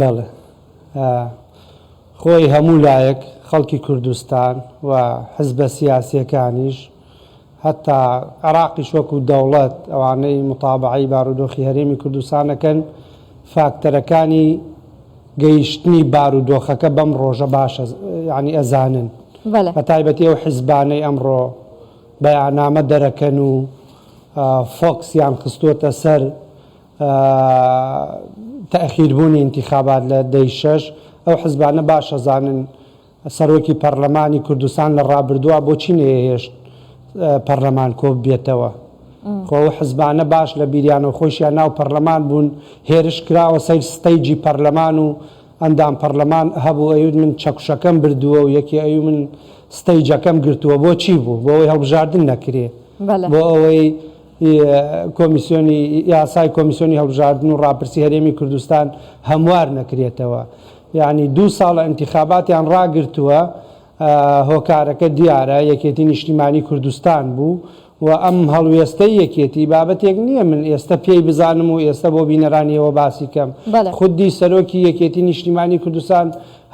بەڵێ خۆی هەموو لایەک خەڵکی کوردستان و حزبە سیاسیەکانیش هەتا عێراقیش وەکو دەوڵەت ئەوانەی متابعەی بارودۆخی هەرێمی کوردستان ئەکەن فاکتەرەکانی گەیشتنی بارودۆخەکە بەم ڕۆژە باشە یعنی ئەزانن بە تایبەتی ئەو حزبانەی ئەمڕۆ بەیانامە دەرەکەن و فۆکسیان خستووەتە سەر تاخیربوونی ئینتیخابات لە دەی شەش، ئەو حزبانە باش ئەزانن سەرۆکی پەڕلەمانی کوردستان لە ڕابردووا بۆچی نەیەهێشت پەڕلەمان کۆ ببێتەوە؟ خۆ ئەو حزبانە باش لە بیریانەو خۆیشیان ناو پەڕلەمان بوون، هێرش کراوە سەیر ستەیجی پەڕلەمان و ئەندام پەڕلەمان هەبوو ئەیوت من چەکوشەکەم بردووە و یەکێ ئەیوت من ستەیجەکەم گرتووە، بۆچی بوو؟ بۆ ئەوەی هەڵبژاردن نەکرێ. بۆ ئەوەی ی کۆمیسیۆنی یاسای کۆمیسیۆنی هەڵبژاردن و ڕاپرسی هەرێمی کوردستان هەموار نەکرێتەوە یانی دوو ساڵە ئینتیخاباتیان ڕاگرتووە هۆکارەکە دیارە یەکێتی نیشتیمانی کوردستان بوو و ئەم هەڵوێستەی یەکێتی بابەتێک نییە من ئێستا پێی بزانم و ئێستا بۆ بینەرانیەوە باسی کەم بەڵێ خودی سەرۆکی یەکێتی نیشتیمانی کوردستان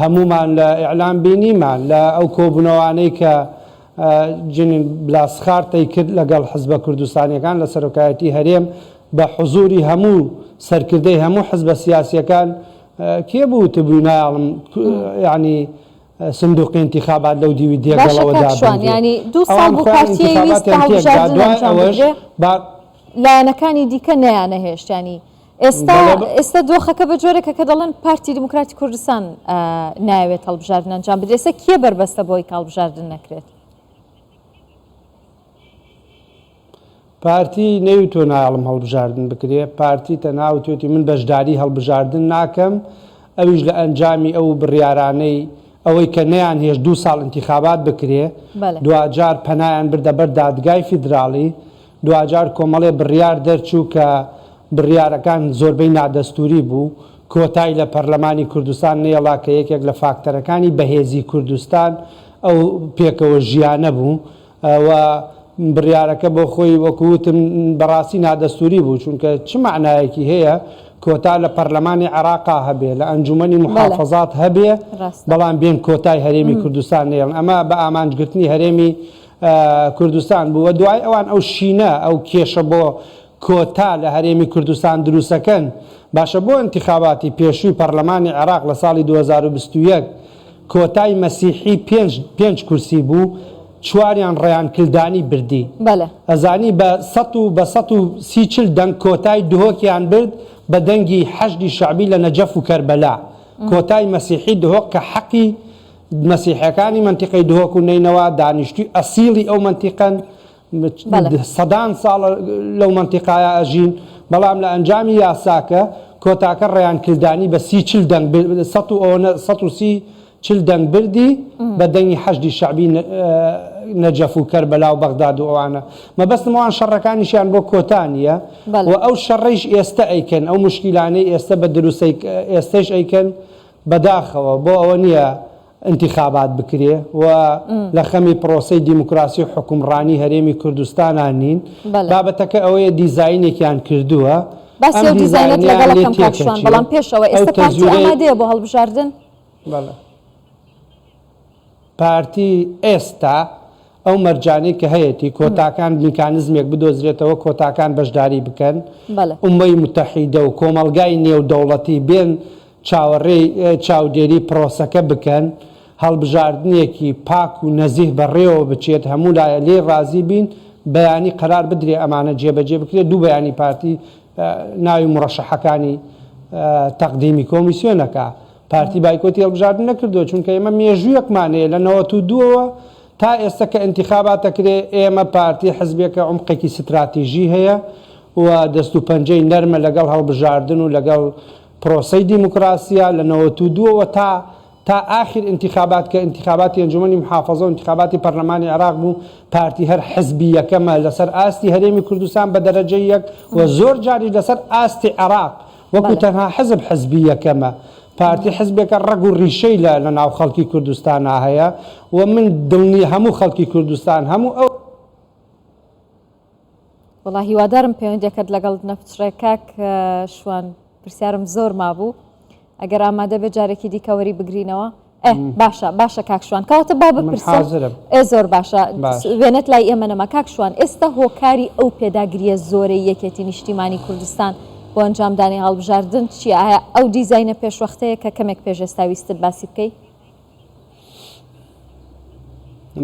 هەمومان لە ئیعلام بینیمان لە ئەو کۆبوونەوانەی کە جنین بلاسخارتەی کرد لەگەڵ حزبە کوردستانیەکان لە سەرۆکایەتی هەرێم بە حزوری هەموو سەرکردەی هەموو حزبە سیاسیەکان کێ بوو وتبوی نایاڵم یعنی سندوقی انتخابات لەو دیوی دێگەڵەوە دابنرێت لایەنەکانی دیکە نەیانەهێشتانی ئێستا ئێستا دۆخەکە بە جۆرێکە کە دەڵێن پارتی دیموکراتی کوردستان ناوێت هەڵبژاردن ئەنجام بدرێسە کێ بەربەستە بۆی کاڵبژاردن نەکرێت پارتی نەیوتۆ نایڵم هەڵبژاردن بکرێ پارتی تەناوتێتی من بەشداری هەڵبژاردن ناکەم ئەویش لە ئەنجامی ئەو بڕیارانەی ئەوەی کە نیان هێش دو ساڵ انتخابات بکرێ دواجار پەنایان بردە بەر دادگای فیدراڵی دواجار کۆمەڵێ بڕیار دەرچوو کە بڕیارەکان زۆربەی نادەستووری بوو، کۆتای لە پەرلەمانی کوردستان نەیەڵا کە یەکێک لە فاکتەرەکانی بەهێزی کوردستان ئەو پێکەوە ژیانە بوو و بڕیارەکە بۆ خۆی وەکو وتم بەڕاستی نادەستووری بوو چونکە چ مەعنایەکی هەیە کۆتا لە پەرلەمانی عێراقا هەبێ لە ئەنجومەنی موحافەزات هەبێ بەڵام بێن کۆتای هەرێمی کوردستان نەیەڵن ئەمە بە ئامانجگرتنی هەرێمی کوردستان بوو و دوای ئەوان ئەو شینە ئەو کێشە بۆ کۆتا لە هەرێمی کوردستان دروستەکەن باشە بۆ ئینتخاباتی پێشووی پەڕلەمانی عێڕاق لە ساڵی دوو هەزار و بیست و یەک کۆتای مەسیحی پێنج پێنج کورسی بوو چواریان ڕەیان کلدانی بردی بەلێ. ئەزانی بە سەد و بە سەد و سی چل دەنگ کۆتای دهۆکیان برد بە دەنگی حەشدی شەعبی لە نەجەف و کەربەلا کۆتای مەسیحی دهۆک کە حەقی مەسیحیەکانی مەنتیقەی دهۆک و نەینەوا دانیشتووی ئەسیڵی ئەو مەنتیقەن، سەدان ساڵە لەو مەنتیقایە ئەژین، بەڵام لە ئەنجامی یاساکە کۆتاکە ڕەیان کلدانی بە سی چل دەنگ سەد و ئەوەنە سەد و سی چل دەنگ بردی بە دەنگی حەشدی شەعبی نەجەف و کەربەلا و بەغداد و ئەوانە مەبەستم ئەوان شەڕەکانیشیان بۆ کۆتا نیە و ئەو شەڕەیش ئێستە ئەیکەن ئەو موشکیلانەی ئێستە بە دروسەی ئێستەیش ئەیکەن بەداخەوە بۆ ئەوە نیە ئینتیخابات بکرێ و لە خەمی پرۆسەی دیموکراسی و حوکمڕانی هەرێمی کوردستانا نین. بابەتەکە ئەوەیە دیزاینێکیان کردووە، ئەم دیزاینەیان لێ تێکەچووە، ئەو تەزویرەی. پارتی ئێستا ئەو مەرجانەی کە هەیەتی کۆتاکان میکانزمێک بدۆزرێتەوە کۆتاکان بەشداری بکەن ئومەی متحیدە و کۆمەلگای نێو دەوڵەتی بێن چاوەڕێی چاودێری پرۆسەکە بکەن هەڵبژاردنێکی پاک و نەزیه بەڕێوە بچێت هەموو لایە لێی ڕازی بین بەیانی قەرار بدرێ ئەمانە جێبەجێ بکرێ دوو بەیانی پارتی ناوی موڕەشەحەکانی تەقدیمی کۆمیسیۆنەکا پارتی بایکۆتی هەڵبژاردن نەکردووە چونکە ئێمە مێژوویەکمان هەیە لە نەوەت و دووەوە تا ئێستە کە ئینتیخابات ئەکرێ ئێمە پارتی حزبێکە عومقێکی ستراتیژی هەیە و دەست و پەنجەی نەرمە لەگەڵ هەڵبژاردن و لەگەڵ پرۆسەی دیموکراسیا لە نەوەت و دووەوە تا تا ئاخیر ئینتیخابات کە ئینتیخاباتی ئەنجومەنی محافەزە و ئینتیخاباتی پەرلەمانی عێراق بوو پارتی هەر حزبی یەکەمە لەسەر ئاستی هەرێمی کوردستان بە دەرەجەی یەک و زۆر جاریش لەسەر ئاستی عێراق وەکو تەنها حزب حزبی یەکەمە. پارتی حزبێکە ڕەگ و ڕیشەی لە لە ناو خەڵکی کوردستانا هەیە و من دڵنی هەموو خەڵکی کوردستان هەموو ئەو. وەڵا هیوادارم پەیوەندیەکەت لەگەڵ نەپچڕێ کاک شوان پرسیارم زۆر مابوو ئەگەر ئامادە بێ جارێکی دیکەوەری بگرینەوە ئەه باشە باشە کاک شوان کەواتە با من بپرسم حازرم ئێ زۆر باشە باش وێنەت لای ئێمە نەما کاک شوان ئێستا هۆکاری ئەو پێداگرییە زۆرەی یەکێتی نیشتیمانی کوردستان بۆ ئەنجامدانی هەڵبژاردن چییە ئایا ئەو دیزاینە پێشوەختەیە کە کەمێک پێش ئێستا ویستت باسی بکەی؟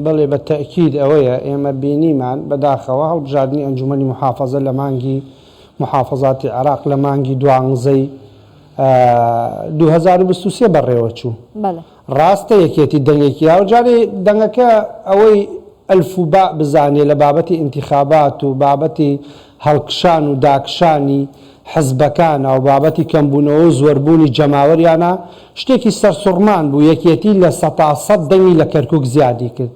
بەڵێ بە تەئکید ئەوەیە ئێمە بینیمان بەداخەوە هەڵبژاردنی ئەنجوومەنی موحافەزە لە مانگی موحافەزاتی عێراق لە مانگی دوانزەی دوو هەزار و بیست و سێ بەڕێوەچوو ڕاستە یەکێتی دەنگێکی یاوە جارێ دەنگەکە ئەوەی ئەلف و باء بزانێ لە بابەتی ئینتیخابات و بابەتی هەڵکشان و داکشانی حزبەکانە و بابەتی کەمبوونەوە و زۆربوونی جەماوەریانە شتێکی سەرسوڕمان بوو یەکێتی لە سەتا سەد دەنگی لە کەرکوک زیادی کرد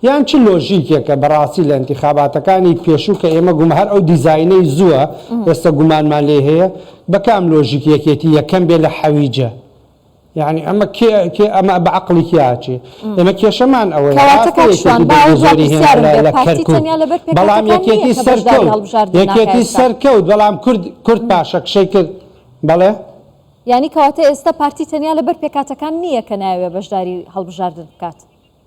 یان چ لۆژیکێکە بەڕاستی لە ئینتیخاباتەکانی پێشوو کە ئێمە گوم هەر ئەو دیزاینەی زووە ئێستە گومانمان لێی هەیە بە کام لۆژیک یەکێتی یەکەم بێ لە حەویجە؟ یانی ئەمە کێ کێ ئەمە بە عەقڵی کێ ئاچێ؟ ئێمە کێشەمان ئەوەیە کەواتە ڕاستە کاک شوان یەکێتی بەرگی باوەڕ زۆری هێنا پرسیارم لە بێ لە پارتی کەرکوک تەنیا لەبەر بەڵام پێکهاتەکان نییە یەکێتی کە بەشداری سەرکەوت هەڵبژاردن ناکا یەکێتی ئێستا سەرکەوت بەڵام کورد کورد پاشەکشەی کرد بەڵێ یانی کەواتە ئێستا پارتی تەنیا لەبەر پێکاتەکان نییە کە نایەوێ بەشداری هەڵبژاردن بکات؟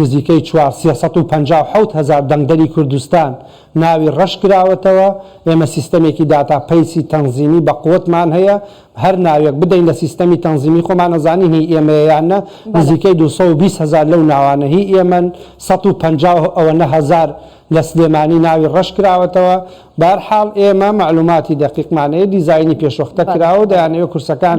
نزیکەی چوار سێ سەد و پەنجا و حەوت هەزار دەنگدەری کوردستان ناوی ڕەش کراوەتەوە، ئێمە سیستەمێکی داتا پەیسی تەنزیمی بە قوتمان هەیە، هەر ناوێک بدەین لە سیستەمی تەنزیمی خۆمان ئەزانین هی ئێمەیە یان نە، بەلێ. نزیکەی دوو سەد و بیست هەزار لەو ناوانە هی ئێمەن، سەد و پەنجا و ئەوەنە هەزار لە سلێمانی ناوی ڕەش کراوەتەوە، بەهەرحاڵ ئێمە مەعلوماتی دەقیقمان هەیە، دیزاینی پێشوەختە بەلێ کراوە و بەلێ. دەیانەوێت کورسەکان